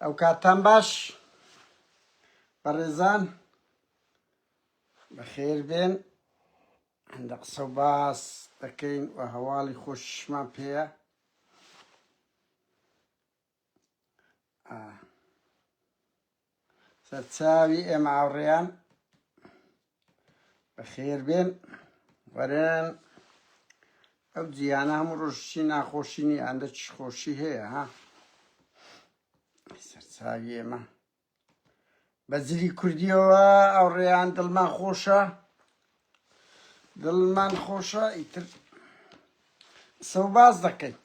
ئەو کاتتان باش بەڕێزان بەخێر بێن هەندە قسە و باس دەکەین و هەواڵی خۆشمان پێەیە سەرچاوی ئێمە ئاوڕێیان بەخێر بێن وەرن ئەو جیانە هەموو ڕۆژشی ناخۆشی نی ئەندە چ خۆشی هەیە ها سەرچاوی ئێمە بە زلی کوردیەوە ئەوڕێیان دڵمان خۆشە دڵمان خۆشە ئیتر قسە و باس دەکەین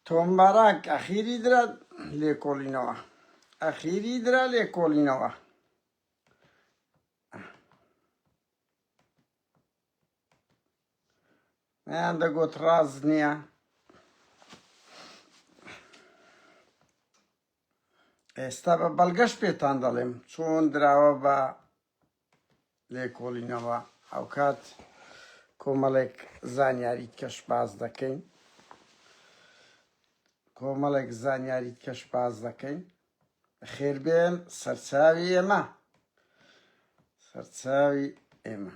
تۆم باراک ئەخیری درا لێکۆڵینەوە ئەخیری درا لێکۆڵینەوە ئەیان دەگوت ڕاز نییە ئێستا بە بەڵگەش پێتان دەڵێم چۆن دراوە بە لێکۆڵینەوە ئەوکات کۆمەڵێک زانیاریت کەش باز دەکەین کۆمەڵێک زانیاریت کەش باز دەکەین بەخێربێن سەرچاوی ئێمە سەرچاوی ئێمە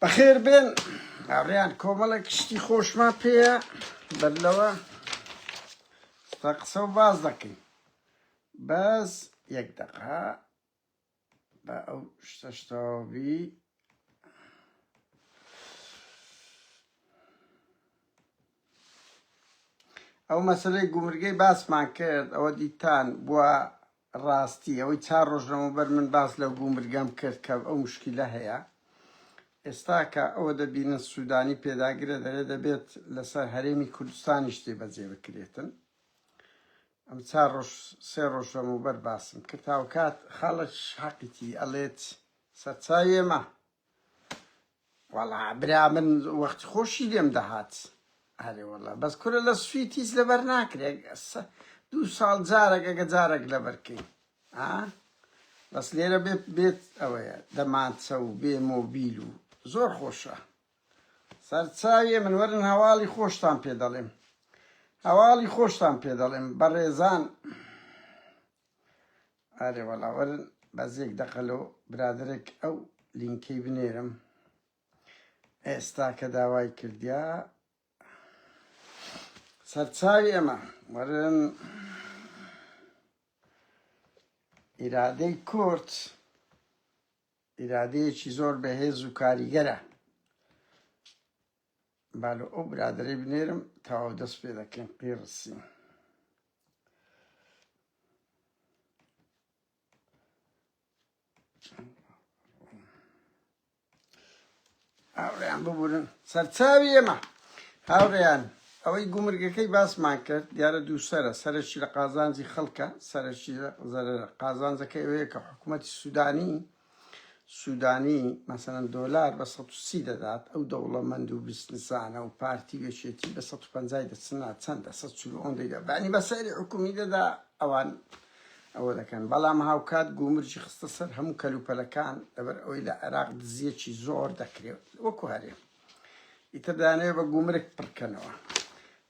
بەخێر بێن ئاڕیان کۆمەڵێک شتی خۆشمان پێەیە بەر لەوە قسە و باز دەکەین بەس یەک دەقا با ئەو شتەش تەواو بی ئەو مەسلەی گومرگەی باسمان کرد ئەوە دیتان بووە ڕاستی ئەوەی چار ڕۆژ لەمەوبەر من باس لەو گومرگەم کرد کە ئەو مشکلە هەیە ئێستا کە ئەوە دەبینن سوودانی پێداگرە دەرێ دەبێت لەسەر هەرێمی کوردستانی شتێ بەجێ بکرێتن ئەم چار ڕۆژ سێ ڕۆژ لەمەوبەر باسم کرد هاوکات خەڵک حەقیتی ئەڵێت سەرچاوی ئەمە وەڵا برا من وەختی خۆشی لێم دەهات ئەرێ وەڵا بەس کورە لە سوید هیچ لەبەر ناکرێت دوو ساڵ جارێک ئەگە جارێک لەبەرکەی ئا بەس لێرە بێت بێت ئەوەیە دەمانچە و بێ مۆبیل و زۆر خۆشە سەرچاویێ من وەرن هەواڵی خۆشتان پێ دەڵێم هەواڵی خۆشتان پێ دەڵێم بەڕێزان ئارێ وەڵا وەرن بەزێک دەقەلۆ برادێک ئەو لینکەی بنێرم ئێستا کە داوای کردیا سەرچاوی ئەمە وەرن ئیرادەی کورد ئیرادەیەکی زۆر بەهێز و کاریگەرە. با لۆ ئەو برادەرەی بنێرم تەواو دەست پێ دەکەین قیڕسی هاوڕێیان ببورن سەرچاوی ئێمە. هاوڕێیان ئەوەی گومرگەکەی باسمان کرد دیارە دووسەرە سەرەکی لە قازانجی خەڵکە سەرەکی زەرەرە قازانجەکە ئەوەیە کە حکوومەتی سوودانی سوودانی مەسەن دۆلار بە 130 دەدات ئەو دەوڵەمەند و بیستنسانە و پارتی وێشێتی بە 150 دەچنا چەندە 140 دەدا بانی بە سەری حکومی دەدا ئەوان ئەوە دەکەن، بەڵام هاوکات گومرجی خستە سەر هەموو کەلوپەلەکان، لەبەر ئەوەی لە عێراق دزییەکی زۆر دەکرێت وەکو هەرێم، ئیتر دەیانەوێت بە گومرگ پڕکەنەوە،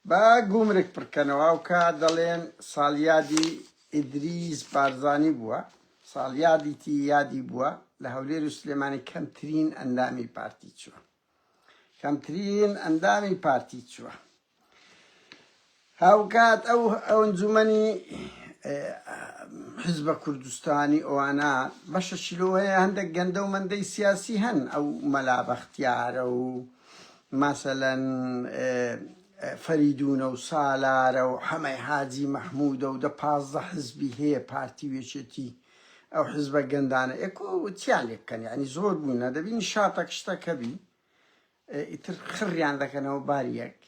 بە گومرگ پڕکەنەوە، هاوکات دەڵێن ساڵیادی ئیدریس بارزانی بووە، ساڵیادیی یادی بووە، لە هەولێر و سلێمانی کەمترین ئەندامی پارتی چووە. کەمترین ئەندامی پارتی چوە. هاوکات ئەو ئەنجومەنی حزبە کوردستانی ئەوانە بەشەشی لەوە هەیە هەندێک گەندە و مەندەی سیاسی هەن ئەو مەلا بەختیارە و مەسەلەن فەریدونە و سالارە و حەمەی حاجی مەحمودە و دە پازدە حزبی هەیە پارتی وێچێتی ئەو حیزبە گەندانە ئێکۆ چیان لێ بکەن یعنی زۆر بوونە دەبینی شاتەک شتەکەبی ئیتر خڕیان دەکەنەوە باریەک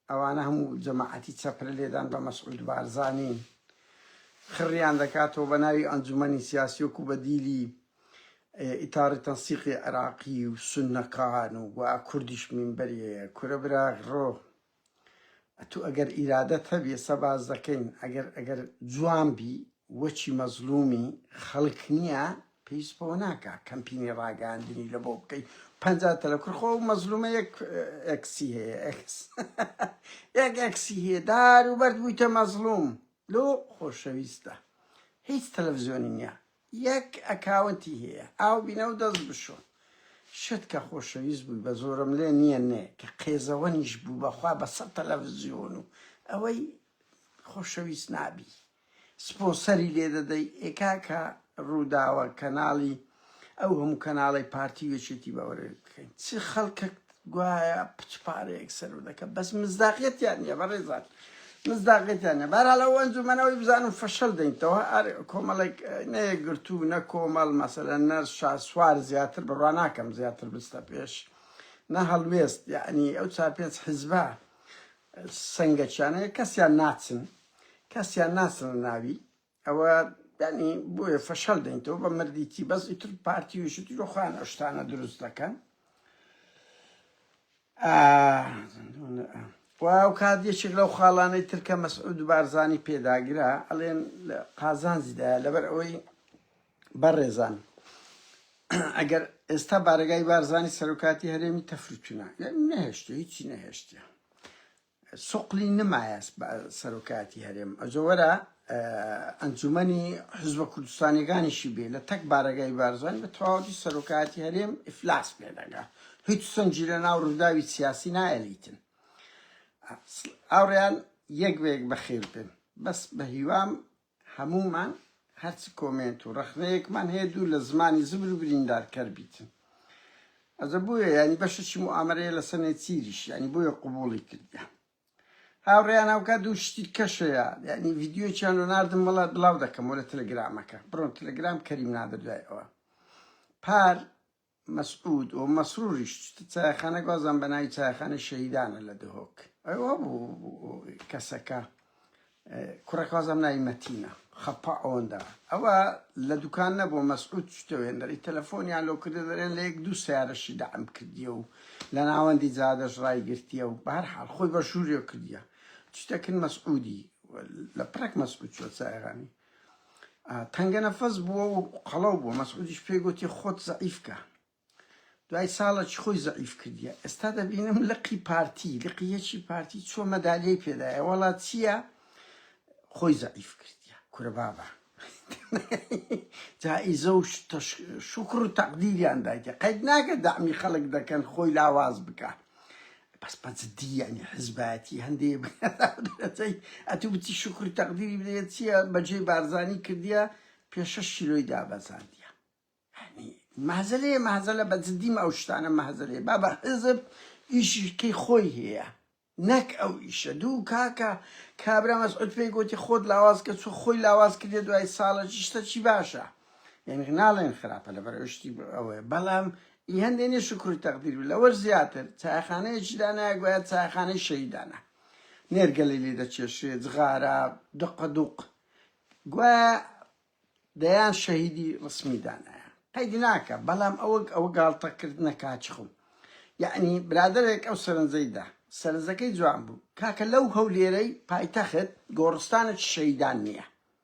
ئەوانە هەموو جەماعەتی چەپرە لێدان بە مەسعود بارزانانی خڕیان دەکاتەوە بە ناوی ئەنجومەنی سیاسیۆک و بە دیلی ئیتاری تەنسیقی عێراقی و سنەکان و و کوردیش منبەریەیە کورە برا ڕۆ ئەتو ئەگەر ئیرادەت هەبی ئێستا باس دەکەین ئەگەر ئەگەر جوان بی وەچی مەزلومی خەلک نیە پیس بۆ ناکا کەمپینی راگەیاندنی لە بۆ بکەی پەنجا تەلە کور خۆ مەزلومە یەک ئەکسی هەیە ئەکس یەک ئەکسی هەیە دار و بەرد بوویتە مەزلوم لۆ خۆشەویستە هیچ تەلەفزیۆنی نیە یەک ئەکاونتی هەیە ئاو بینەو دەست بشۆ. شت کە خۆشەویست بووی بە زۆرم لێ نیە نێ کە قێزەوەنیش بوو بەخوا بە سەد تەلەفزیۆن و ئەوەی خۆشەویست نابی سپۆنسەری لێ دەدەی ئێ کاکە ڕووداوە کەناڵی ئەو هەموو کەناڵەی پارتی و یەکێتی بەوەرێ بکەین چ خەڵکەک گوایە پچ پارەیەک سەرو دەکە بەس مزداقیتیان نیە بەڕێزان مزداقیتیان نیە بارا لە وەنج و منەوەی بزانم فەشەل دەینتەوە ئەر کۆمەڵێک نەیەگرتو نە کۆمەڵ مەسەلە نەر شاسوار زیاتر بڕوا ناکەم زیاتر بستە پێش نە هەڵوێست یعنی ئەو چار پێنج حزبە سنگەچیانەیە کەسیان ناچن کەسیان ناچن ناوی ئەوە یانی بۆیە فەشەل دەین تۆ بە مردیتی بەس ئیتر پارتی وشت لە خۆیان ئەشتانە دروست دەکەن واو کات یەکێک لەو خاڵانەی ترکە مەسعود و بارزانی پێداگرا ئەڵێن لە قازانجیدا لەبەر ئەوەی بەڕێزان ئەگەر ئێستا بارگای بارزانی سەرۆکاتی هەرێمی تەفروتونە نەهێشتە هیچی نەهێشتە سوقلی نمایە سەرۆکایەتی هەرێم ئەجۆ وەرە ئەنجومەنی حزبە کوردستانیەکانیشی بێ لە تەک بارەگای بارزان بە تەواوەتی سەرۆکایەتی هەرێم ئیفلاس پێدەگا هیچ سنجی لە ناو ڕووداوی سیاسی نایەلیتن ئاوڕیان یەک بەیەک بەخێر بن بەس بە هیوام هەموومان هەرچ کۆمێنت و ڕەخنەیەکمان هەیە دوور لە زمانی زبر و بریندار کەر بیتن ئەزە بۆیە یانی بەشەچی موامەرەیە لە سەنێ چیریش یانی بۆیە قوبوڵی کردە هاوڕێیان هاوکات دوو شتی کەشەیە یعنی ڤیددیو چیان لۆ ناردم وڵا بڵاو دەکەمەوە لە تەلەگرامەکە بڕۆن تەلەگرام کەریم نادە دوای ئەوە پار مەسعود و مەسروریش چتە چایەخانەک وازان بە ناوی چایەخانەی شەهیدانە لە دهۆک ئەوە بوو کەسەکە کوڕەکە وازان ناوی مەتینە خەپە ئەوەندا ئەوە لە دوکان نەبوو مەسعود چتەوێندەری تەلەفۆنیان لۆ کردە دەرێن لە یەک دوو سیارەشی دەعم کردیە و لە ناوەندی جادەش ڕای گرتیە و بەهر حال خۆی بە ژووریۆ کردیە چتەکن مەسعودی لە پرەک مەسعود چۆ چایەخانی تەنگەنەفەس بووە و قەڵەو بووە، مەسعودیش پێی گۆتی خۆت زەعیف کە. دوای ساڵەکی خۆی زەعیف کردیە. ئێستا دەبینم لقی پارتی، لقی یەکی پارتی چووە مەدالیەی پێدایە، وەڵا چییە؟ خۆی زەعیف کردیە. کورە بابە. جائیزە و شوکر و تەقدیریان دایتێ. قەید ناکە دەعمی خەڵک دەکەن خۆی لاواز بکا. بەس بە جدی یانی حزبایەتی هەندێ بەدەرەجەی ئەتوو بچی شکر و تەقدیری بدەیە چییە بەجێی بارزانی کردیە پێشەش شیلۆی دابەزاندیە یعنی مەهزەلەیە مەهزەلە بە جدیم ئەو شتانە مەهزەلەیە با بە حزب ئیشیکەی خۆی هەیە نەک ئەو ئیشە دوو کاکە کابرا مەسعود پێی گوتی خۆت لاواز کە چۆ خۆی لاواز کردێ دوای ساڵە شتە چی باشە یعنی ناڵێن خراپە لەبەر شتی ئەوەیە بەڵام ی هەندێ نیە شوکر و تەقدیر بێ لەوەش زیاتر چایەخانەیەکی دانایە گوایە چایەخانەی شەهیدانە نێرگەلەی لێ دەکێشرێ جغارە دقە دوق گوایە دەیان شەهیدی ڕسمی دانایە قەیدی ناکە بەڵام ئەوەک ئەوە گاڵتە کردنە کاچخم یعنی برادرێک ئەو سەرنجەی دا سەرنجەکەی جوان بوو کاکە لەو هەولێرەی پایتەخت گۆڕستانێکی شەهیدان نییە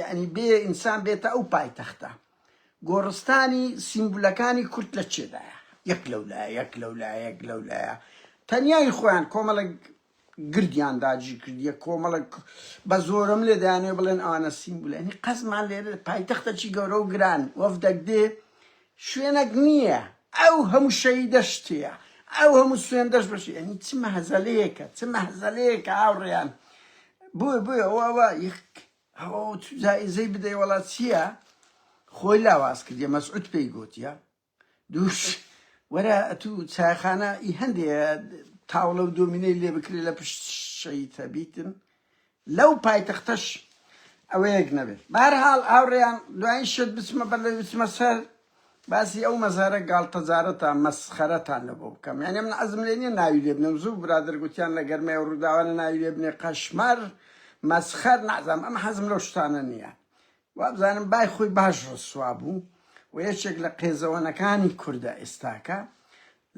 یەعنی بێ ئینسان بێتە ئەو پایتەختە گۆڕستانی سیمبولەکانی کورد لە چێدایە یەک لەو لایە یەک لەو لایە یەک لەو لایە تەنیایی خۆیان کۆمەڵک گردیان داجی کردیە کۆمەڵک بە زۆرم لێ دەیانێ بڵێن ئەوانە سیمبولێنی قەزمان لێرە پایتەختە چی گەورە و گران وەفدەک دێ شوێنەک نییە ئەو هەموو شەهیدەش تێیە ئەو هەموو سوێندەش بەشی ئەنی چ مەهزەلەیەکە چ مەهزەلەیەکە هاوڕێیان بۆ بۆیە ئەوە یەک ئەوە تو جایزەی بدەی وەڵا چییە خۆی لاواز کردیە مەسعود پێی گوتیە دووش وەرە تو چایخانە ئی هەندێ تاوڵە و دۆمینەی لێ بکرێت لە پشت شەیتە بیتن لەو پایتەختەش ئەوەیەک نەبێت بەهەرحاڵ هاوڕێیان دوایین شت بچمە بەر لەوی بچمە سەر باسی ئەو مەزارە گاڵتەجارەتان مەسخەرەتان لە بۆ بکەم یانێ من عەزم لێ نیە ناوی لێ بنێم زوو برادەر گوتیان لە گەرمەی ئەو ڕووداوانە ناوی لێ بنێ قەشمەر مەسخەر نازانم ئەم حەزم لەو شتانە نیە وابزانم بای خۆی باش ڕسوا بوو و یەکێک لە قێزەوەنەکانی کوردە ئێستاکە.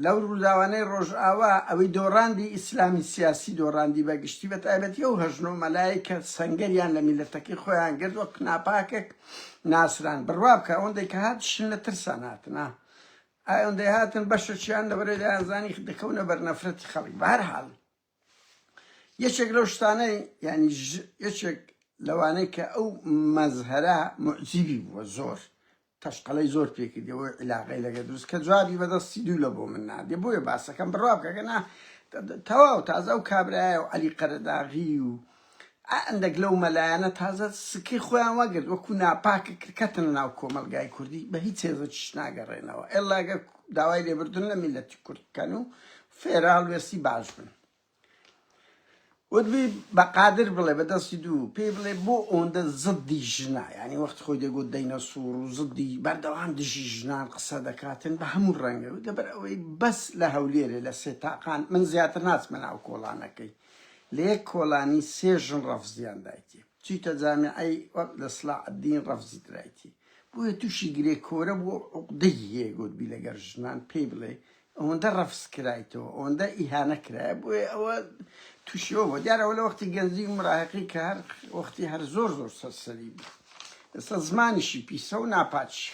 لەو ڕووداوانەی ڕۆژئاوا ئەوی دۆڕاندی ئیسلامی سیاسی دۆڕاندی بە گشتی بە تایبەتی ئەو هەژن و مەلایەی کە سەنگەریان لە میللەتەکەی خۆیان گرت وەک ناپاکێک ناسران. بڕوا بکە ئەوەندەی کە هاتشن لە ترسان هاتن ها ئەوەندەی هاتن بەشەکیان لەبەرەی دەیانزانی دەکەونە بەر نەفرەتی خەڵک. بە هەر حاڵ. یەکێک لەو شتانەی یانی یەکێک لەوانەی کە ئەو مەزهەرە معجیبی بووە زۆر تەشقەڵی زۆر پێکردی بۆی عیلاقی لەگە دروست کە جوابی بەدەستی دوو لە بۆ من نادێ بۆیە باسەکەم بڕوا بکەگەنا تەواو تازە و کابراایە و علی قەرەداغی و ئا ئەندەک لەو مەلایانە تازە سکەی خۆیان وەگرت وەکو ناپاکە کرد کەتنە ناو کۆمەلگای کوردی بە هیچ هێز و چیش ناگەرێنەوە ئێلا ئەگەر داوای لێبوردن لە میلەتی کورد بکەن و فێرال وێستی باش بن وتبی بە قادر بڵێ بە دەستی دوو پێی بڵێ بۆ ئەوەندە زدی ژنا ینی وەخت خۆی دەگوت دەینە سوور و زدی بەردەوام دژی ژنان قسە دەکاتن بە هەموو ڕەنگە لەبەر ئەوەی بەس لە هەولێرێ لە سێ تاقان من زیاتر ناچمە ناو کۆڵانەکەی لە یەک کۆلانی سێ ژن ڕەفزیان دایتی چیتە جامیعەی وەک لە سلاح الدین ڕەفزی درایتی بۆیە تووشی گرێ کۆرە بووە و عوقدەی هەیە گوتبی لەگەر ژنان پێی بڵێ ئەوەندە ڕەفز کرایتەوە ئەوەندە ئیهانە کرایە بۆیە ئەوە تووشیەوە بۆ دیارە ئەوە لە وەختی گەنجی و مراهقی کە هەر وەختی هەر زۆر زۆر سەرسەری بوو ئێستا زمانیشی پیسە و ناپاچی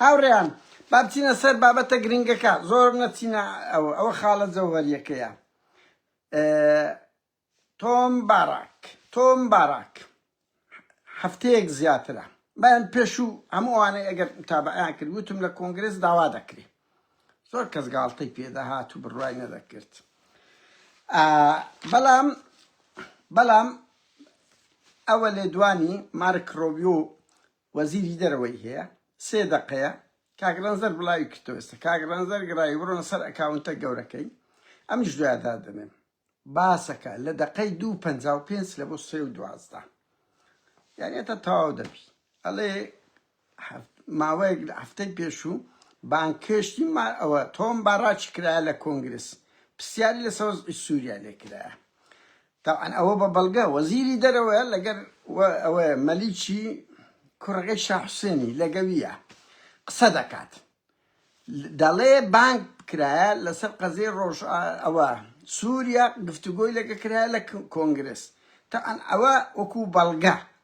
هاوڕێیان با بچینە سەر بابەتە گرنگەکە زۆر نەچینە ئەوە ئەوە خاڵە جەوهەریەکەیە تۆم باراک، Tom Barak، هەفتەیەک زیاترە بەیان پێشوو هەموو ئەوانەی ئەگەر متابەعەیان کرد وتم لە کۆنگرێس داوا دەکرێ زۆر کەس گاڵتەی پێدەهات و بڕوای نەدەکرد بەڵام بەڵام ئەوە لێدوانی مارک ڕۆبیۆ وەزیری دەرەوەی هەیە سێ دەقەیە کاک ڕەنجدەر بڵاوی کردەوە ئێستا کاک ڕەنجدەر گڕاوی بڕۆنە سەر ئەکاونتە گەورەکەی ئەمنیش دوایان دادەنێم باسەکە لە دەقەی دوو پەنجا و پێنج لە بۆ سێ و دوازدە یانی هەتا تەواو دەبی ئەڵێ ماوەیەک لە هەفتەی پێشوو بانکشتی ما ئەوە تۆم باڕاچی کرایە لە کۆنگرس پرسیاری لە سەوز سووریا لێ کرایە تەبعەن ئەوە بە بەڵگە وەزیری دەرەوەیە لەگەر و ئەوەیە مەلیکی کوڕەکەی شا حوسێنی لەگەویە قسە دەکات دەڵێ بانگ کرایە لەسەر قەزێ ڕۆژ ئەوە سووریا گفتوگۆی لەگە کرایە لە کۆنگرس تەعەن ئەوە وەکو بەڵگە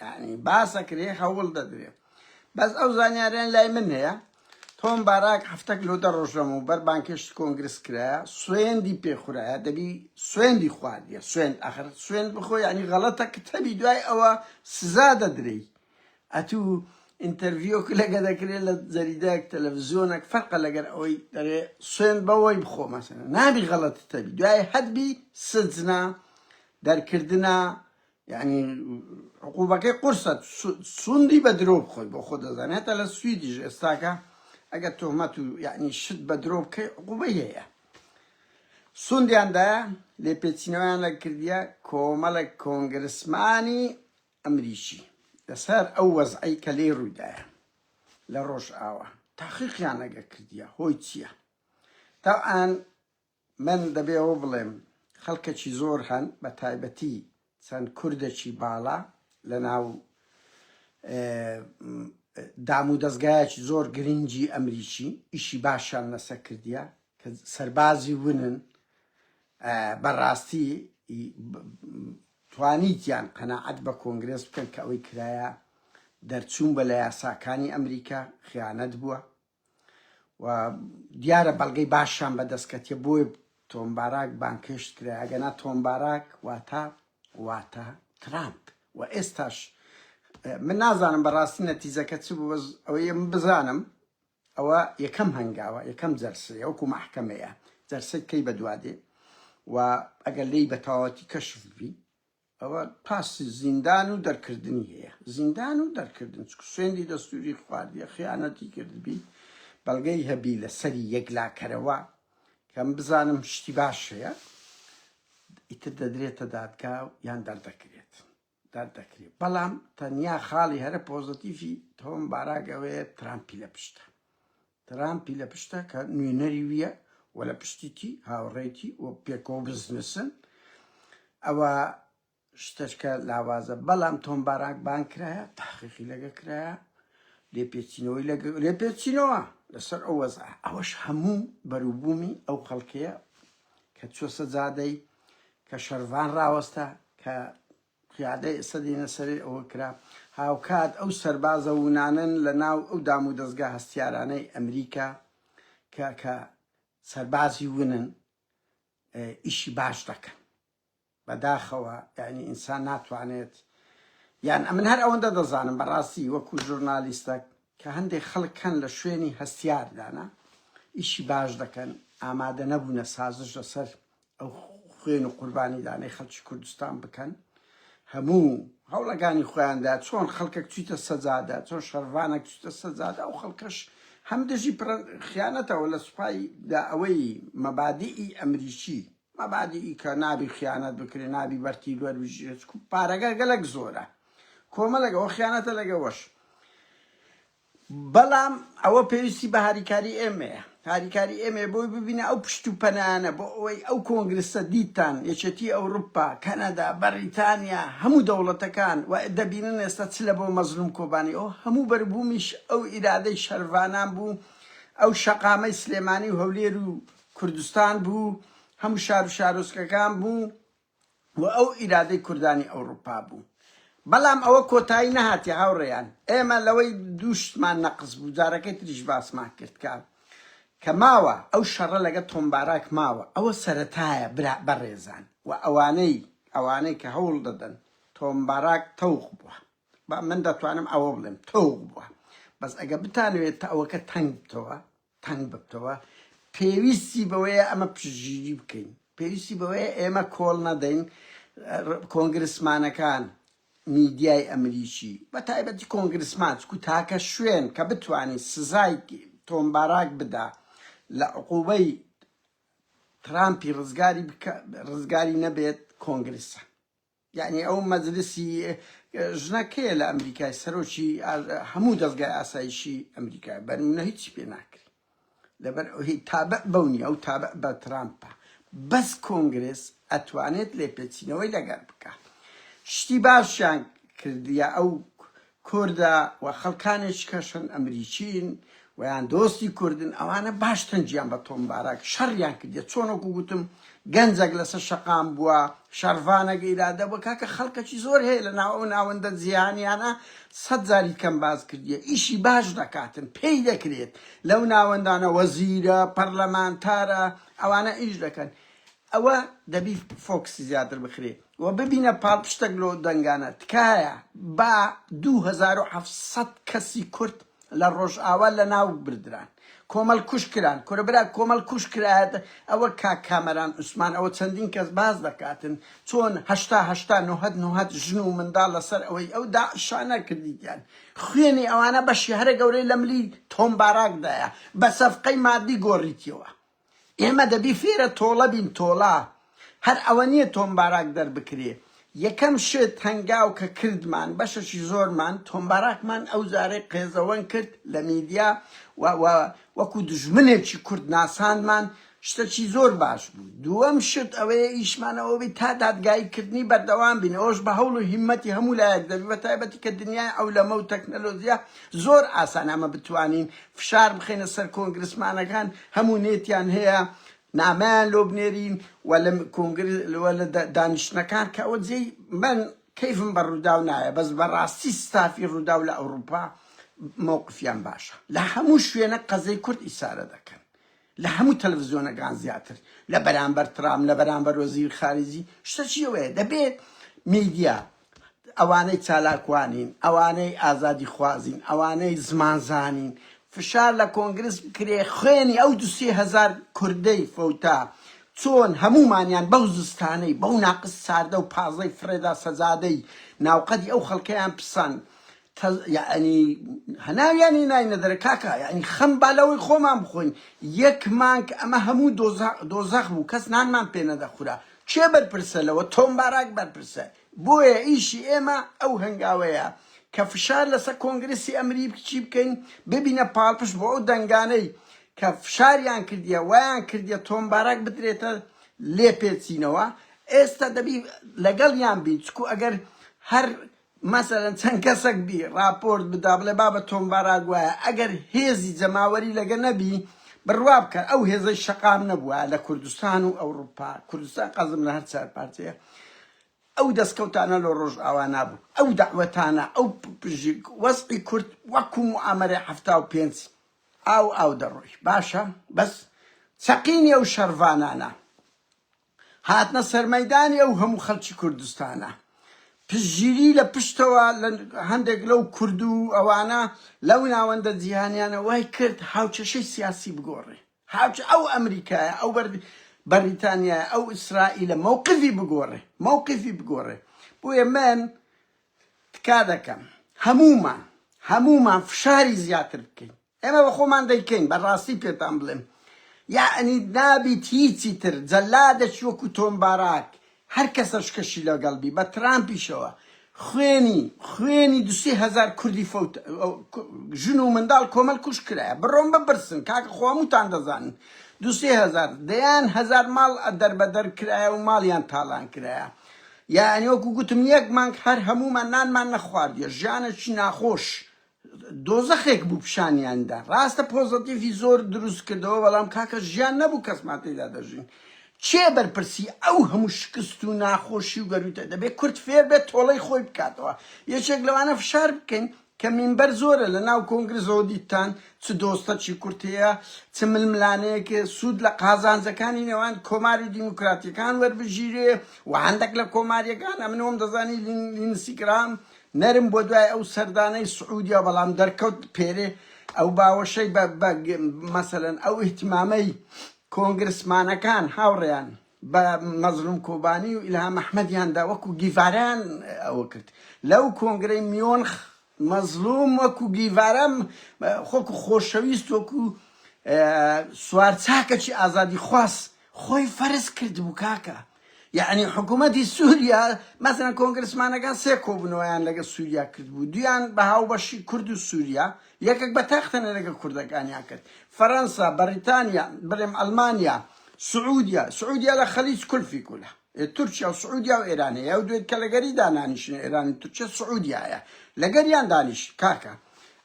یانی باسەکرێ هەوڵ دەدرێ بەس ئەو زانیاریان لای من هەیە تۆم باراک هەفتەک لۆ دە ڕۆژەم و بەر بانکێشت کۆنگرس کرایە سوێندی پێخورایە دەبی سوێندی خواردیە سوێند ئەخر سوێند بخۆ ینی غەڵەتە کە تەبی دوای ئەوە سزا دەدرێی ئەتوو ئینتەرڤیۆک لەگە دەکرێت لە جەریدەک تەلەڤزیۆنەک فەرقە لەگەر ئەوەی دەرێ سوێن بەوەی بخۆ مەسەن نابی غەڵەت تەبی دوای هەبی سجنا دەرکردە یانی عقوبەکەی قورسە سوندی بە درۆ بخۆی بۆ خۆ دەزانێت هەتا لە سویدیش ئێستاکە ئەگەر تۆمەت و یعنی شت بە درۆ بکەی عقوبەی هەیە سوندیاندایە لێپێچینەوەیان لە کردیە کۆمەڵە کۆنگرسمانی ئەمریکی لەسەر ئەو وەزعی کە لێ ڕوویدایە لە ڕۆژ ئاوە تاقیقیان لەگە کردیە هۆی چییە تاان من دەبێ ئەوە بڵێم خەڵکەکی زۆر هەن بە تایبەتی چەند کوردەکی باڵا لە ناو دام و دەستگایەکی زۆر گرنگی ئەمریکی ئیشی باشیان لەسەر کردیە کە سەربازی ونن بەڕاستی توانیتیان قەنەعەت بە کۆنگرێس بکەن کە ئەوەی کرایە دەرچوون بە لە یاساکانی ئەمریکا خیانەت بووە و دیارە بەڵگەی باشیان بەدەست کەتیە بۆی تۆم باراک بانکشت کرا ئەگەنا تۆم باراک واتە واتە ترامپ و ئێستاش من نازانم بەڕاستی نەتیزەکە چ بوو ئەوەیە من بزانم ئەوە یەکەم هەنگاوە یەکەم جەرسەیە وەکو مەحکەمەیە جەرسەی کەی بەدوادێ و ئەگەر لی بەتەواوەتی کەشف بی ئەوە پاسی زیندان و دەرکردنی هەیە زیندان و دەرکردن چکو سوێندی دەستوری خواردیە خیانەتی کردبی بەڵگەی هەبی لەسەری یەکلاکەرەوە کەم بزانم شتی باش هەیە ئیتر دەدرێتە دادگا و یان دەردەکرێت دەردەکرێت بەڵام تەنیا خاڵی هەرە پۆزتیفی تۆم باراگەوەیە ترامپی لە پشتە ترامپی لە پشتە کە نوێنەری ویە و لە پشتیتی هاوڕێیتی و پێکەوە بزنسن ئەوە شتەشکە لاوازە بەڵام تۆم باراک بان کرایە تحقیقی لەگە کرایە لێپێچینەوەی لەگە لێپێچینەوە لەسەر ئەو وەز ئەوەش هەموو بەروبوومی ئەو خەڵکەیە کە چۆسە زادەی کە شەرڤان ڕاوەستە کە قیادەی ئەسەدی نەسەری ئەوە کرا هاوکات ئەو سەربازە ونانن لە ناو ئەو دام و دەزگا هەستیارانەی ئەمریکا کە کە سەربازی ونن ئیشی باش دەکەن بەداخەوە یعنی ئینسان ناتوانێت یان ئەمن هەر ئەوەندە دەزانم بەڕاستی وەکو ژورنالیستەک کە هەندێک خەڵک هەن لە شوێنی هەستیاردانە ئیشی باش دەکەن ئامادە نەبوونە سازش لەسەر ئەو خوێن و قوربانیدانەی خەڵکی کوردستان بکەن هەموو هەوڵەکانی خۆیاندا چۆن خەڵکەک چیتە سەجادە چۆن شەرڤانەک چیتە سەجادە ئەو خەڵکەش هەم دژی خیانەتەوە لە سوپای دا ئەوەی مەبادیئی ئەمریکی مەبادیئی کە نابی خیانەت بکرێ نابی بەرتی دوەر بژێت پارەگە گەلک زۆرە کۆمەلەگەەوە خیانەتە لەگەوەش بەڵام ئەوە پێویستی بە هاریکاری ئێمەیە، هاریکاری ئێمەیە بۆی ببینە ئەو پشت و پەنایانە بۆ ئەوەی ئەو کۆنگرسە دیتان یەکێتی ئەوروپا، کەنەدا، بەڕیتانیا هەموو دەوڵەتەکان و دەبینن ئێستا چ لە بۆ مەزلوم کۆبانی و هەموو بەروبوومیش ئەو ئیرادەی شەرڤانان بوو، ئەو شەقامەی سلێمانی و هەولێر و کوردستان بوو، هەموو شار و شارۆچکەکان بوو، و ئەو ئیرادەی کوردانی ئەوڕوپا بوو. بەڵام ئەوە کۆتایی نەهاتیە هاوڕێیان، ئێمە لەوەی دوو شتمان نەقس بوو جارەکەی تریش باسمان کرد کە کە ماوە ئەو شەڕە لەگە تۆم باراک ماوە ئەوە سەرەتایە برا بەڕێزان و ئەوانەی ئەوانەی کە هەوڵ دەدەن تۆم باراک تەوق بووە با من دەتوانم ئەوە بڵێم تەوق بووە بەس ئەگە بتانەوێت تەوەکە تەنگ بتەوە تەنگ ببتەوە، پێویستی بەوەیە ئەمە پشتگیری بکەین، پێویستی بەوەیە ئێمە کۆڵ نەدەین، کۆنگرسمانەکان، میدیای ئەمریکی، بە تایبەتی کۆنگرسمان، چکو تاکە شوێن کە بتوانی سزای تۆم باراک بدا لە عقوبەی ترامپی ڕزگاری بکا، ڕزگاری نەبێت، کۆنگرسە. یەعنی ئەو مەجلسی ژنە کێیە لە ئەمریکای سەرۆکی هەموو دەزگای ئاسایشی ئەمریکای بەرمونە هیچی پێ ناکری لەبەر ئەوهی تابع بەونی ئەو تابع بە ترامپە بەس کۆنگرس ئەتوانێت لێپێچینەوەی لەگەر بکە شتی باشیان کردیە ئەو کوردە و خەڵکانێکی کەشن ئەمریکین و یان دۆستی کوردن ئەوانە باش تەنگیان بە تۆم باراک شەڕیان کردیە چۆن وەکو گوتم گەنجەک لەسەر شەقام بووە شەڕڤانەک ئیرادە بووە کاکە خەڵکەکی زۆر هەیە لە ناو ئەو ناوەندە جیهانیانە سەد جاری کەم باس کردیە ئیشی باش دەکاتن پێی دەکرێت لەو ناوەندانە وەزیرە پەرلەمانتارە ئەوانە ئیش دەکەن ئەوە دەبی فۆکسی زیاتر بخرێ و ببینە پاڵپشتەک لۆ دەنگانە تکایە با دوو هەزار و حەفت سەد کەسی کورد لە ڕۆژئاوا لە ناو بردران کۆمەل کوژ کران کورە برا کۆمەل کوژ کرایەت ئەوە کاک کامەران عوسمان ئەوە چەندین کەس باس دەکاتن چۆن هەشتا هەشتا نۆهەد نۆهەد ژن و منداڵ لە سەر ئەوەی ئەو داعشانە کردیتیان خوێنی ئەوانە بەشی هەرە گەورەی لە ملی تۆم باراک دایە بە سەفقەی مادی گۆڕیتیەوە ئێمە دەبی فێرە تۆڵە بین تۆڵە هەر ئەوە نیە تۆم باراک دەربکرێ یەکەم شت هەنگاو کە کردمان بەشەشی زۆرمان تۆم باراکمان ئەو جارەی قێزەوەن کرد لە میدیا و و وەکو دژمنێکی کورد ناساندمان شتەکی زۆر باش بوو دووەم شت ئەوەیە ئیشمان ئەوە بی تا دادگایی کردنی بەردەوام بین ئەوش بە هەوڵ و هیمەتی هەموو لایەک دەبی بە تایبەتی کە دنیای ئەولەمە و تەکنەلۆجیا زۆر ئاسان ئەمە بتوانین فشار بخەینە سەر کۆنگرسمانەکان هەموو نێتیان هەیە نامەیان لۆ بنێرین و لە کۆنگرە و لە دانیشتنەکان کە ئەوە جێی من کەیفم بە ڕووداو نایە بەس بەڕاستی ستافی ڕووداو لە ئەوروپا مەوقفیان باشە لە هەموو شوێنە قەزەی کورد ئیسارە دەکەن لە هەموو تەلەڤزیۆنەکان زیاتر لە بەرامبەر ترام لە بەرامبەر وەزیر خارجی شتە چیەوەیە دەبێت میدیا ئەوانەی چالاکوانین، ئەوانەی ئازادیخوازین، ئەوانەی زمانزانین، فشار لە کۆنگرس بکرێ خوێنی ئەو دو سێ هەزار کوردەی فەوتا چۆن هەموومانیان بەو زستانەی، بەو ناقس ساردە و پازەی فرێدا سەجادەی ناو قەدی ئەو خەڵکەیان پسان تە یەعنی هەناویانی ناینە دەرێ کاکە یەعنی خەم با لەوەی خۆمان بخۆین یەک مانگ ئەمە هەموو دۆزە دۆزەخ بوو کەس نانمان پێ نەدەخورا کێ بەرپرسە لەوە؟ تۆم باراک بەرپرسە. بۆیە ئیشی ئێمە ئەو هەنگاوەیە کە فشار لەسەر کۆنگرێسی ئەمریکی بکەین ببینە پاڵپشت بۆ ئەو دەنگانەی کە فشاریان کردیە وایان کردیە تۆم باراک بدرێتە لێپێچینەوە. ئێستا دەبی لەگەڵیان بین چکو ئەگەر هەر مەسەلەن چەند کەسەک بی ڕاپۆرت بدا بڵێ بابە تۆم باراک وایە ئەگەر هێزی جەماوەری لەگە نەبی بڕوا بکە ئەو هێزەی شەقام نەبوایە لە کوردستان و ئەوڕوپا کوردستان قەزم لە هەر چار پارچەیە ئەو دەستکەوتانە لۆ ڕۆژ ئاوا نابوو ئەو دەعوەتانە ئەو پژیک وەسعی کورد وەکو معامەرە حەفتا و پێنج ئاو ئاو دەڕۆی باشە بەس چەقینی ئەو شەرڤانانە هاتنە سەرمەیدانی ئەو هەموو خەلکی کوردستانە پشتگیری لە پشتەوە لە هەندێک لەو کورد و ئەوانە لەو ناوەندە جیهانیانە وای کرد هاوکێشەی سیاسی بگۆڕێ هاوچ ئەو ئەمریکایە ئەو بەر بەریتانیایە ئەو ئیسرائیلە مەوقفی بگۆڕێ مەوقفی بگۆڕێ بۆیە من تکا دەکەم هەموومان هەموومان فشاری زیاتر بکەین ئێمە بە خۆمان دەیکەین بە ڕاستی پێتان بڵێم یەعنی نابیت هیچی تر جەلادێکی وەکو تۆم باراک هەر کەسەشکەشی لەگەڵ بی بە ترامپیشەوە خوێنی خوێنی دو سێ هەزار کوردی فەوت ژن و منداڵ کۆمەل کوش کرایە بڕۆن بپرسن کاکە خۆ هەمووتان دەزانن دو سێ هەزار دەیان هەزار ماڵ دەربەدەر کرایە و ماڵیان تاڵان کرایە یەعنی وەکو گوتم یەک مانگ هەر هەموومان نانمان نەخواردیە ژیانێکی ناخۆش دۆزەخێک بوو پیشانیان دا ڕاستە پۆزەتیڤی زۆر دروست کردەوە بەڵام کاکە ژیان نەبوو کەسمان تێدا دەژین کێ بەرپرسی ئەو هەموو شکست و ناخۆشی و گەروتە دەبێت کورد فێر بێت تۆڵەی خۆی بکاتەوە یەکێک لەوانە فشار بکەین کە مینبەر زۆرە لە ناو کۆنگرزەوە دیتان چ دۆستەکی کورد هەیە چ ململانەیەک سوود لە قازانجەکانی نێوان کۆماری دیموکراتیەکان وەربگیرێ و هەندێک لە کۆماریەکان ئەمنەوەم دەزانی لینسیگرام نەرم بۆ دوای ئەو سەردانەی سعودیا بەڵام دەرکەوت پێرێ ئەو باوەشەی بە مەسەلەن ئەو ئیهتمامەی کۆنگرسمانەکان هاوڕێیان بە مەزلوم کۆبانی و ئیلهام ئەحمەدیاندا وەکو گیڤاران ئەوە کرد لەو کۆنگرەی میۆنخ مەزلوم وەکو گیڤارەم خۆکو خۆشەویست وەکو سوارچاکەچی ئازادی خواست خۆی فەرز کرد بوو کاکە یەعنی حکوومەتی سووریا مەسەن کۆنگرسمانەکان سێ کۆبنەوەیان لەگە سووریا کردبوو دویان بە هاوبەشی کورد و سووریا یەکێک بە تاختەنە لەگە کوردەکانیان کرد فەەنسا بەریتانیا بڵێم ئەلمانیا سعودیا سعودیا لە خەلیج کولفی کولە تورکیا و سعودیا و ئێرانەیە و دوێت کە لەگەری دانانیشن ئێرانی تورکیا سعودایە لەگەریان دانیش کاکە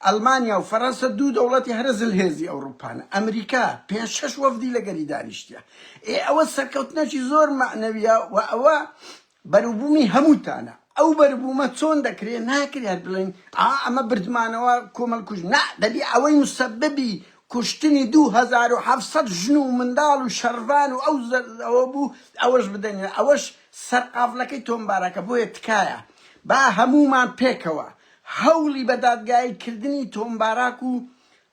ئەلمانیا و فەرەنسە دوو دەوڵەتی هەرە زلهێزی ئەوڕوپان، ئەمریکا پێنج شەش وەفدی لەگەلی دانیشتیە، ئێ ئەوە سەرکەوتنەکی زۆر مەعنەویە و ئەوە بەروبومی هەموتانە، ئەو بەروبومە چۆن دەکرێ، ناکرێ هەر بڵێین ئا ئەمە بردمانەوە کۆمەڵ کوژ، نا دەبی ئەوەی موسەببی کوشتنی دوو هەزار و حەڤ سەد ژن و منداڵ و شەرڤان و ئەو ئەوە بوو ئەوەش بدەنێ، ئەوەش سەرقافلەکەی تۆمبارەکە، بۆیە تکایە با هەمومان پێکەوە هەوڵی بە دادگایی کردنی تۆم باراک و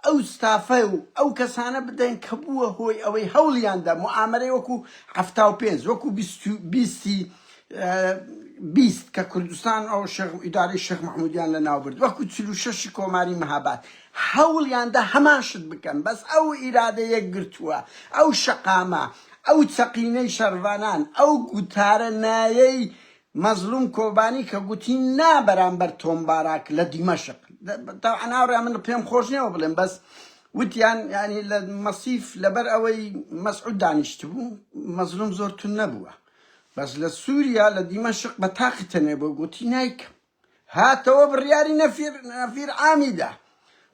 ئەو ستافە و ئەو کەسانە بدەن کە بووە هۆی ئەوەی هەوڵیاندا موئامەرەی وەکو حەفتا و پێنج وەکو بیست و بیستی بیست کە کوردستان و شێخ ئیدارەی شێخ مەحمودیان لە ناو برد وەکو چل و شەشی کۆماری مهاباد هەوڵیاندا هەمان شت بکەن بەس ئەو ئیرادە یەکگرتووە ئەو شەقامە ئەو چەقینەی شەرڤانان ئەو گوتارە نایەی مەزلوم کۆبانی کە گوتی نا بەرامبەر تۆم باراک لە دیمەشق تەبعەن هاوڕێیان من پێم خۆش نییە وە بڵێم بەس وتیان یانی لە مەسیف لەبەر ئەوەی مەسعود دانیشتبوو مەزلوم زۆر تون نەبووە بەس لە سووریا لە دیمەشق بە تاقی تەنێ بۆ گوتی نایکەم هاتەوە بڕیاری نەفیر نەفیر عامی دا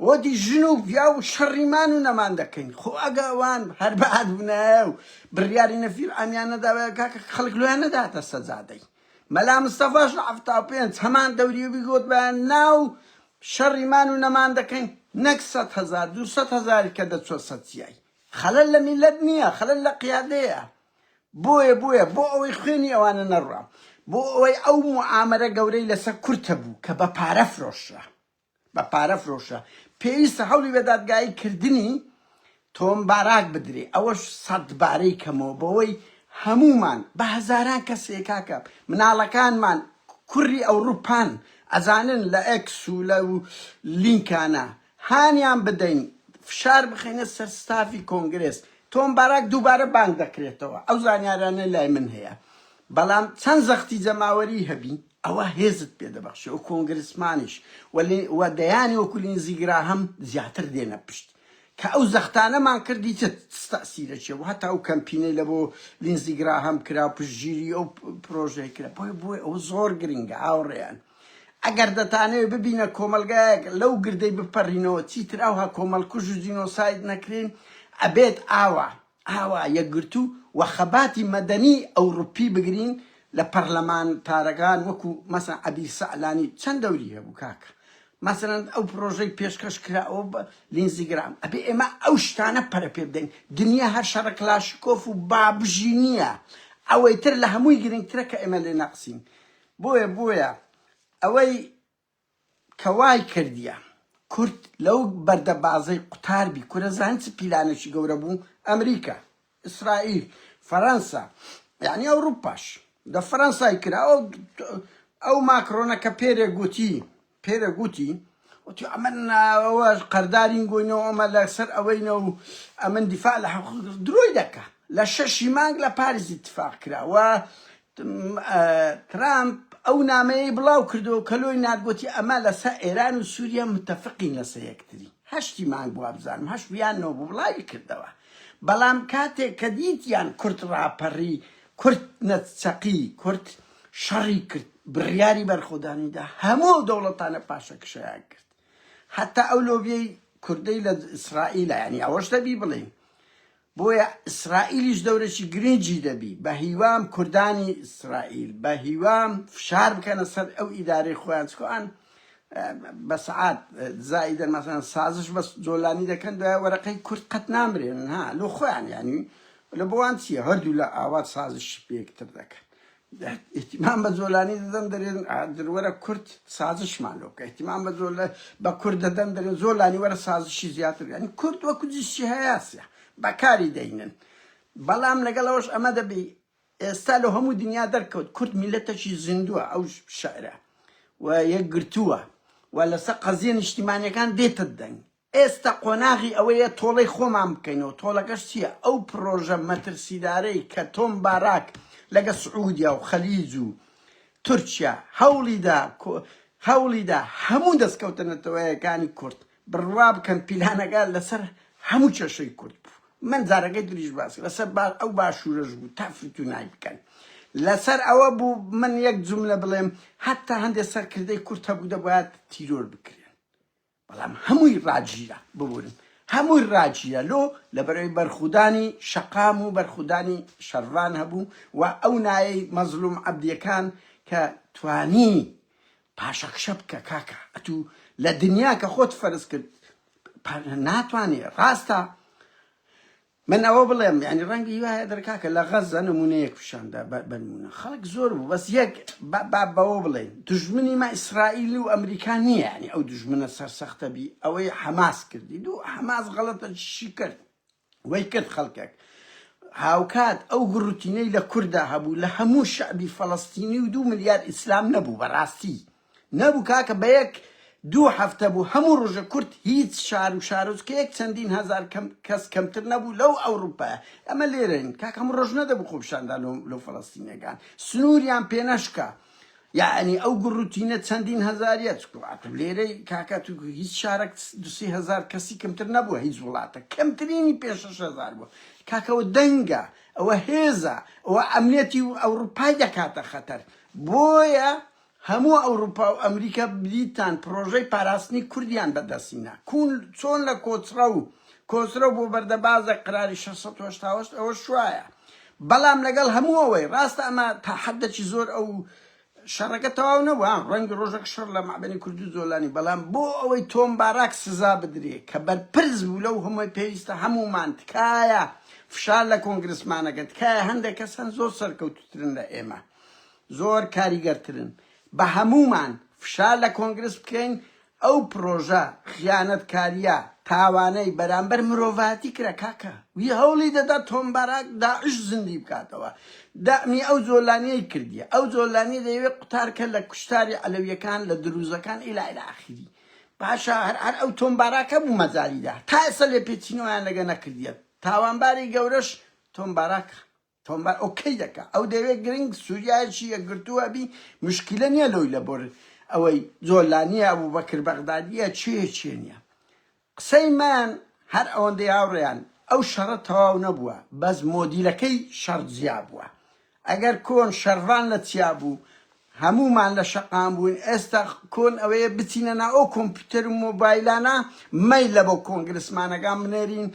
وتی ژن و پیاو شەڕی مان و نەمان دەکەین خۆ ئەگە ئەوان هەر بەعات بنایە و بڕیاری نەفیر عامیان نەداوە کاکە خەڵک لۆیان نەداتە سەجادەی مەلا مستەفاش لە حەفتا و پێنج هەمان دەوری و بیگوت بە ناو شەڕی مان و نەمان دەکەین نەک سەد هەزار دوو سەد هەزاری کە دەچوە سەتیای خەلەل لە میلەت نییە خەلەل لە قیادەیە بۆیە بۆیە بۆ ئەوەی خوێنی ئەوانە نەڕوا بۆ ئەوەی ئەو موعامەرە گەورەی لەسەر کورد هەبوو کە بە پارە فرۆشرا بە پارە فرۆشرا پێویستە هەوڵی بە دادگایی کردنی تۆم باراک بدرێ ئەوەش سەد بارەی کەمەوە بەوەی هەمومان بە هەزاران کەسێ کاکە مناڵەکانمان کوڕی ئەوروپان ئەزانن لە ئەکس و لە لینکانە هانیان بدەین فشار بخەینە سەر ستافی کۆنگرێس. تۆم باراک دووبارە بانگ دەکرێتەوە، ئەو زانیارانە لای من هەیە، بەڵام چەند زەختی جەماوەری هەبی، ئەوە هێزت پێ دەبەخشێ و کۆنگرسمانیش و دەیانی وەکو لینزی گراهەم زیاتر دێنە پشت. کە ئەو زەختانەمان کرد دیتە چ تەئسیرەکی هەبوو، هەتا ئەو کەمپینەی لە بۆ لینزی گراهەم کرا و پشتگیری ئەو پرۆژەی کرا. بۆیە بۆ ئەوە زۆر گرنگە هاوڕێیان. ئەگەر دەتانەوێت ببینە کۆمەلگایەک لەو گردەی بپەرینەوە چیتر ئەوها کۆمەلکوژ و جینۆساید نەکرێن ئەبێت ئاوا ئاوا یەکگرتو و خەباتی مەدەنی ئەوروپی بگرین لە پەرلەمانتارەکان وەکو مەسەن عەبیر سەعلانی چەند دەوری هەبوو کاکە مەسەن ئەو پرۆژەی پێشکەش کراوە بە لینزی گرام ئەبێ ئێمە ئەو شتانە پەرە پێ بدەین دنیا هەر شەڕە کلاشکۆف و بابژی نییە ئەوەی تر لە هەمووی گرنگترە کە ئێمە لێ نەقسین بۆیە بۆیە ئەوەی کە وای کردیە کورد لەو بەردە بازەی قوتار بی کورە زان چ پیلانێکی گەورە بوو ئەمریکا ئیسرائیل فەرەنسا یعنی ئەوروپاش دە فەرەنسای کرا ئەو ئەو ماکرۆنە کە پێرێ گوتی پێرە گوتی، وتی، ئەمن ئەوە قەردارین گۆینە و ئەمە لە سەر ئەوەینە و ئەمن دیفاع لە حەق درۆی دەکا. لە شەشی مانگ لە پاریس ئیتفاق کرا و ترامپ ئەو نامەیەی بڵاو کردەوە کە لۆی نارد گوتی، ئەمە لە سە ئێران و سووریە متەفقین لە سە یەکتری. هەشتی مانگ بوو وابزانم هەشت بوو یان نۆ بوو بڵاوی کردەوە. بەڵام کاتێک کە دیتیان کورد ڕاپەڕی، کورد نەچەقی، کورد شەڕی کرد بڕیاری بەرخۆدانیدا هەموو ئەو دەوڵەتانە پاشەکشەیان کرد هەتا ئەو لۆبیەی کوردەی لە ئیسرائیلە ینی ئەوەش دەبی بڵین بۆیە ئیسرائیلیش دەورەی گرنگی دەبی بە هیوام کوردانی ئیسرائیل بە هیوام فشار بکەنە سەر ئەو ئیدارەی خۆیان چکۆان بە سعات زایدە مەسەن سازش بە جۆلانی دەکەن دوای وەرەقەی کورد قەت نامرێن ها لۆ خۆیان یانی لە بۆوان چیە هەردوو لە ئاوات سازش پێکتر دەکەن ئیتیمان بە جۆلانی دەدەن دەرێن درەوەرە کورد سازشمان لۆ بکە ئیتیمان بە جۆل بە کورد دەدەن دەرێن زۆر لانی وەرە سازشی زیاتر ینی کورد وە کوردیشی هەیاسە بەکاری دەینن بەڵام لەگەڵەوەش ئەمە دەبی ئێستا لە هەموو دنیا دەرکەوت کورد میلەتەکی زیندووە ئەو شعرە و یەکگرتووە و لەسەر قەزیە نیشتیمانەکان دێتە دەنگ ئێستا قۆناغی ئەوەیە تۆڵەی خۆمان بکەینەوە، تۆڵەکەش چییە؟ ئەو پڕۆژە مەترسیدارەی کە تۆم باراک لەگە سعودیا و خەلیج و تورکیا هەوڵیدا هەوڵیدا هەموو دەستکەوتە نەتەوەیەکانی کورد بڕوا بکەن پیلانەکە لەسەر هەموو کێشەی کورد بوو، من جارەکەی تریش باس لەسەر ئەو باشوورەش بوو تا فتوونای بکەن. لەسەر ئەوە بوو من یەک جوملە بڵێم، هەتا هەندێ سەرکردەی کورد هەبوو دەبایە تیرۆر بکرێن. بەڵام هەمووی ڕاگیرا. ببورن هەمووی ڕاگیرا لۆ لەبەرئەوەی بەرخودانی شەقام و بەرخودانی شەرڤان هەبوو و ئەو نایەی مەزلوم عەبدیەکان کە توانی پاشەکشە بکە کاکە ئەتوو لە دنیا کە خۆت فەرز کرد ناتوانی ڕاستە من ئەوە بڵێم یانی ڕەنگە هی وایە دەر کاکە لە غەزە نمونەیەک پیشاندا بەنمونە خەڵک زۆر بوو بەس یەک با بەوە بڵێن دژمنی ما ئیسرائیل و ئەمریکا نییە ینی ئەو دژمنە سەرسەختە بی ئەوەی حەماس کردی دوو حەماس غەڵەتە چی کرد وەی کرد خەڵکێک هاوکات ئەو گڕوتینەی لە کووردا هەبوو لە هەموو شعبی فەڵستینی و دوو ملیار ئیسلام نەبوو بەڕاستی نەبوو کاکە بە یەک دوو هەفتە بوو هەموو ڕۆژە کورد هیچ شار و شارۆچکەیەک چەندین هەزار کەم کەس کەمتر نەبوو لەو ئەوروپایە ئەمە لێرەین کاکە هەموو ڕۆژ نەدەبوو خۆپیشاندا لۆ لۆ فەلەستینیەکان سنووریان پێ نەشکا یعنی ئەو گڕوتینە چەندین هەزاریە چکوات و لێرەی کاکە تو هیچ شارەک دوسی هەزار کەسی کەمتر نەبووە هیچ وڵاتە کەمترینی پێ شش هەزار بووە کاکەەوە دەنگە ئەوە هێزە ئەوە ئەمنێتی و ئەوروپای دەکاتە خەتەر بۆیە هەموو ئەوروپا و ئەمریکا بریتان پرۆژەی پاراستنی کوردیان بەدەستهینا کوون چۆن لە کۆچڕە و کۆچرە بۆ بەردەبازێک قەراری شەش سەد و هەشتا و هەشت ئەوە شوایە بەڵام لەگەڵ هەموو ئەوەی ڕاستە ئەمە تا حەددەکی زۆر ئەو شەڕەکە تەواو نەبوو ها ڕەنگی ڕۆژەک شەڕ لە مەعدەنی کوردو جۆلانی بەڵام بۆ ئەوەی تۆم باراک سزا بدرێ کە بەرپرس بوو لەو هەمووی پێویستە هەموومان تکایە فشار لە کۆنگرسمانەکە تکایە هەندێک کەس هەن زۆر سەرکەوتوترن لە ئێمە زۆر کاریگەرترن بە هەموومان فشار لە کۆنگرس بکەین ئەو پرۆژە خیانەتکاریە تاوانەی بەرامبەر مرۆڤایەتی کرا کاکە وی هەوڵی دەدا تۆم باراک داعش زیندی بکاتەوە دەعمی ئەو زۆلانیەی کردیە ئەو زۆلانی دەیەوێت قوتارکە لە کوشتاری عەلەویەکان لە دروزەکان ئیلا ئیلا ئاخیری باشە هەر هەر ئەو تۆم باراکە بوو مەجالیدا تا ئێستا لێپێچینەوەیان لەگە نەکردیە تاوانباری گەورەش تۆم باراکە تۆمار ئۆکەی دەکا ئەو دەوێ گرنگ سوریایەکی یەکگرتوو هەبی مشکیلە نیە لۆی لەبۆر ئەوەی جۆلانیە ئەبوبەکر بەغدادیە چێ چێ نیە قسەی من هەر ئەوەندەی هاوڕێیان ئەو شەڕە تەواو نەبووە بەس مۆدیلەکەی شەڕ جیا بووە ئەگەر کۆن شەرڤان لە چیا بوو هەموومان لە شەقام بووین ئێستا کۆن ئەوەیە بچینە نا ئەو کۆمپیوتەر و مۆبایلانە مەیلە بۆ کۆنگرسمانەکان بنێرین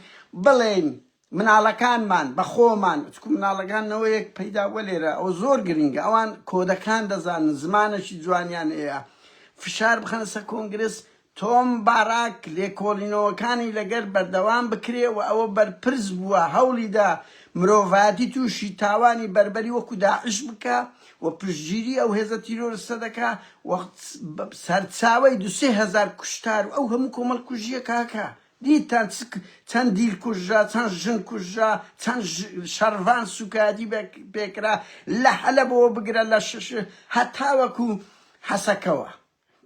بڵێین مناڵەکانمان بە خۆمان چکو مناڵەکان نەوەیەک پەیدا وە لێرە ئەوە زۆر گرنگە ئەوان کۆدەکان دەزانن زمانەشی جوانیان هەیە فشار بخەنە سەر کۆنگرس تۆم باراک لێکۆڵینەوەکانی لەگەر بەردەوام بکرێ و ئەوە بەرپرس بووە هەوڵیدا مرۆڤایەتی تووشی تاوانی بەربەری وەکو داعش بکە و پشتگیری ئەو هێزە تیرۆرستە دەکا و سەرچاوەی دوسێ هەزار کوشتار و ئەو هەموو کۆمەڵ کوژیە کاکە دیتتان چ چەند دیل کوژرا، چەند ژن کوژرا، چەند شەڕڤان سووکایەتی پێ کرا، لە حەلەبەوە بگرە لە شش هەتاوەکو حەسەکەوە.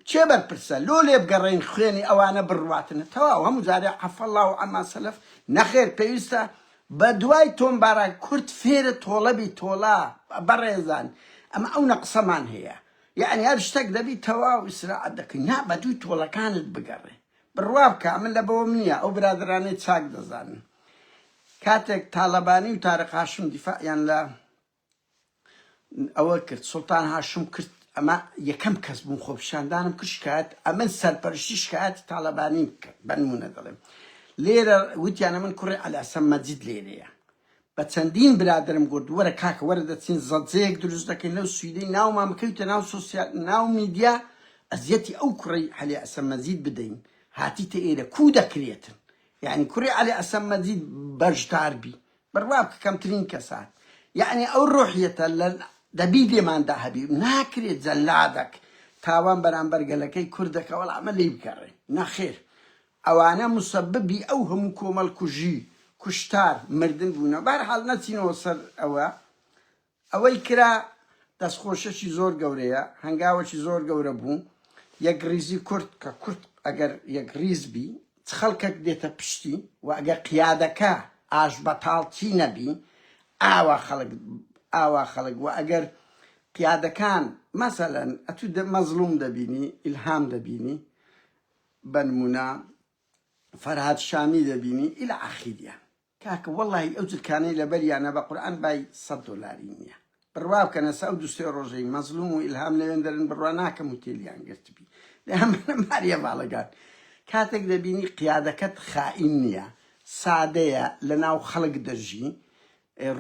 کێ بەرپرسە؟ لۆ لێبگەڕێین خوێنی ئەوانە بڕواتنە تەواو هەموو جارێ عفی اللە عما سلف؟ نەخێر پێویستە بە دوای تۆمبارا کورد فێرە تۆڵەبی تۆڵە بەڕێزان ئەمە ئەونە قسەمان هەیە یەعنی هەر شتەک دەبی تەواو ئیسراعەت دەکەین نا بە دووی تۆڵەکانت بگەڕێ بڕوا بکە من لە بەوەم نییە ئەو برادەرانەی چاک دەزانن کاتێک تالەبانی و تارق هاشم دیفاعیان لە ئەوە کرد سلتان هاشم کرد ئەمە یەکەم کەس بوون خۆپشاندانم کرد شکایەت ئەمن سەرپەرشتی شکایەتی تاالبانی بکە بەنمونە دەڵێم لێرە وتیانە من کوڕی ئەلاسەم مەجید لێرەیە بە چەندین برادەرم گۆت وەرە کاکە وەرە دەچین زەجەیەک دروست دەکەین لەو سویدەی ناومان بکەویتە ناو سۆسیال ناو میدیا ئەزیەتی ئەو کوڕەی عەلی عەسەم مەجید بدەین هاتیتە ئێرە کوو دەکرێتن یانی کوڕی عەلی عەسەم مەجید بەژدار بی بڕوا بکە کەمترین کەس هات یانی ئەو ڕۆحیەتە لە دەبی لێماندا هەبی ناکرێت جەلادەک تاوان بەرامبەر گەلەکەی کورد دەکە وەڵا ئەمە لێی بگەڕێ نەخێر ئەوانە موسەببی ئەو هەموو کۆمەڵکوژی، کوشتار، مردن بوونە. بەهەرحاڵ نەچینەوە سەر ئەوە. ئەوەی کرا دەستخۆشیەکی زۆر گەورەیە، هەنگاوەکی زۆر گەورە بوو. یەکڕیزی کورد، کە کورد ئەگەر یەکڕیز بی، چ خەڵکەک دێتە پشتی و ئەگەر قیادەکە ئاشبەتاڵچی نەبی، ئاوا خەڵک ئاوا خەڵک و ئەگەر قیادەکان مەسەلەن ئەتوو مەزڵووم دەبینی، ئیلهام دەبینی، بەنمونە فەرهاد شامی دەبینی الی اخیریا کاکە وەڵاهی ئەو جلکانەی لەبەریانە بەقورعان بای سەد دۆلاری نیە بڕوا بکە نەسە ئەو دو سێ ڕۆژەی مەزلوم و ئیلهام لەوێندەرن بڕوا ناکەم هوتێلیان گرتبی دەیان بەنە ماریە باڵەگان کاتێک دەبینی قیادەکەت خائین نیە سادەیە لەناو خەڵک دەژی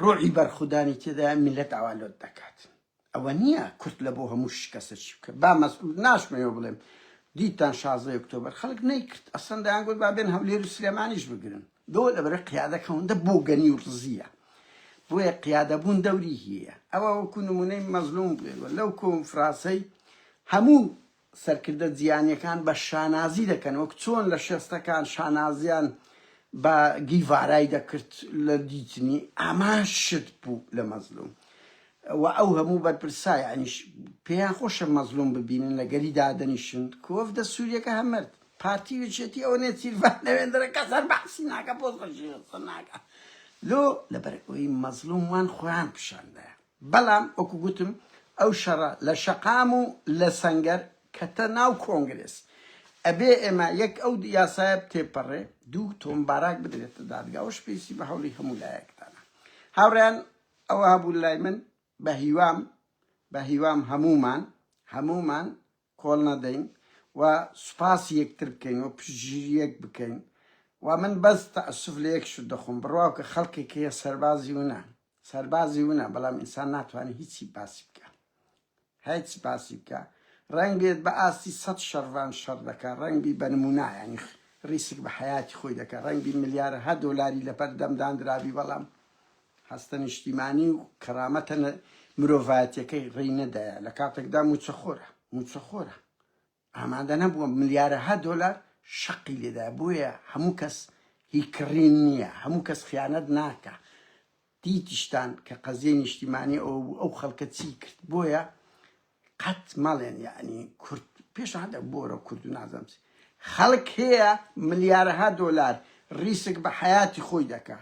ڕۆعی بەرخودانی تێدا میلەت ئاوا لۆت دەکات ئەوە نیە کورد لەبۆ هەموو شکەسە چی بکە با مەسعود ناشمەوێ بڵێم دیتتان شازدە ی ئۆکتۆبەر خەلک نەیکرد ئەسلەن دەیان گوت با بێن هەولێر و سلێمانیش بگرن دۆ لەبەرە قیادە کەوندە بۆگەنی و رزیە بۆیە قیادە بوون دەوری هیە ئەوە وەکو نمونەی مەزلوم بڵێ لەو کۆنفراسەی هەموو سەرکردە جیهانیەکان بە شانازی دەکەن وەک چۆن لە شێستەکان شانازیان بە گیڤارای دەکرد لە دیتنی ئامان شت بوو لە مەزلوم و ئەو هەموو بەرپرسا یانیش پێیان خۆشە مەزلوم ببینن لە گەلی دادەنیشن کوەفدە سوریەکە هەمرد پارتی وچێتی ئەوە نێ چیرڤان نەوێندرە کەسەر بەحسی ناکە پۆز خەشی ناکە لۆ لەبەر ئەوەی مەزلوم وان خۆیان پیشاندایە بەڵام وەکو گوتم ئەو شەڕە لە شەقام و لە سەنگەر کەتە ناو کۆنگرێس ئەبێ ئێمە یەک ئەو یاسایە بتێپەڕێ دوو تۆم باراک بدرێتە دادگا ئەوەش پێویستی بە هەوڵی هەموو لایەکتانە هاوڕێیان ئەوە هەبوو لای من بە هیوام بە هیوام هەموومان هەموومان کۆڵ نەدەین و سوپاسی یەکتر بکەین و پشتگیری یەک بکەین و من بەس تەئەسوف لە یەک شت دەخۆم بڕواو کە خەڵکێک هەیە سەربازی ونە سەربازی ونە بەڵام ئینسان ناتوانێت هیچی باسی بکا هیچ باسی بکە ڕەنگ بێت بە ئاستی سەد شەڕڤان شەڕ دەکا ڕەنگ بی بە نمونایانی ڕیسک بە حیاتی خۆی دەکە ڕەنگ بی ملیارەها دۆلاری لەپەر دەمدان درابی بەڵام هەستە نیشتیمانی و کەرامەتە مرۆڤایەتیەکەی ڕێی نەدایە لە کاتێکدا موچەخۆرە موچەخۆرە ئامادە نەبووە ملیارەها دۆلار شەقی لێدا بۆیە هەموو کەس هی کڕین نییە هەموو کەس خیانەت ناکە دیتیشتان کە قەزیە نیشتیمانی ئەو بوو ئەو خەڵکە چی کرد بۆیە قەت مەڵێن یعنی کورد پێش هەدە بۆرە کورد و نازەمسی خەڵک هەیە ملیارەها دۆلار ڕیسک بە حیاتی خۆی دەکە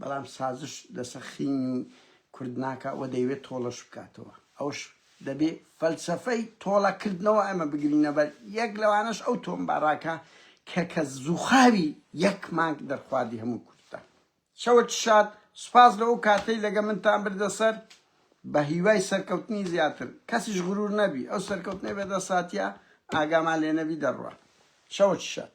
بەڵام سازش لە سەخینی کورد ناکا و دەیەوێت تۆڵەش بکاتەوە. ئەوەش دەبێ فەلسەفەی تۆڵە کردنەوە ئێمە بگرینە بەر، یەک لەوانەش ئەو تۆمباراکە کە کە زوخاوی یەک مانگ دەرخواردی هەموو کوردە. چەوت شاد، سوپاس لە ئەو کاتەی لەگە منتان بردە سەر، بە هیوای سەرکەوتنی زیاتر. کەسیش غرور نەبی، ئەو سەرکەوتنەی بە دەست هاتیە ئاگامان لێ نەبی دەڕوات. چەوت شاد.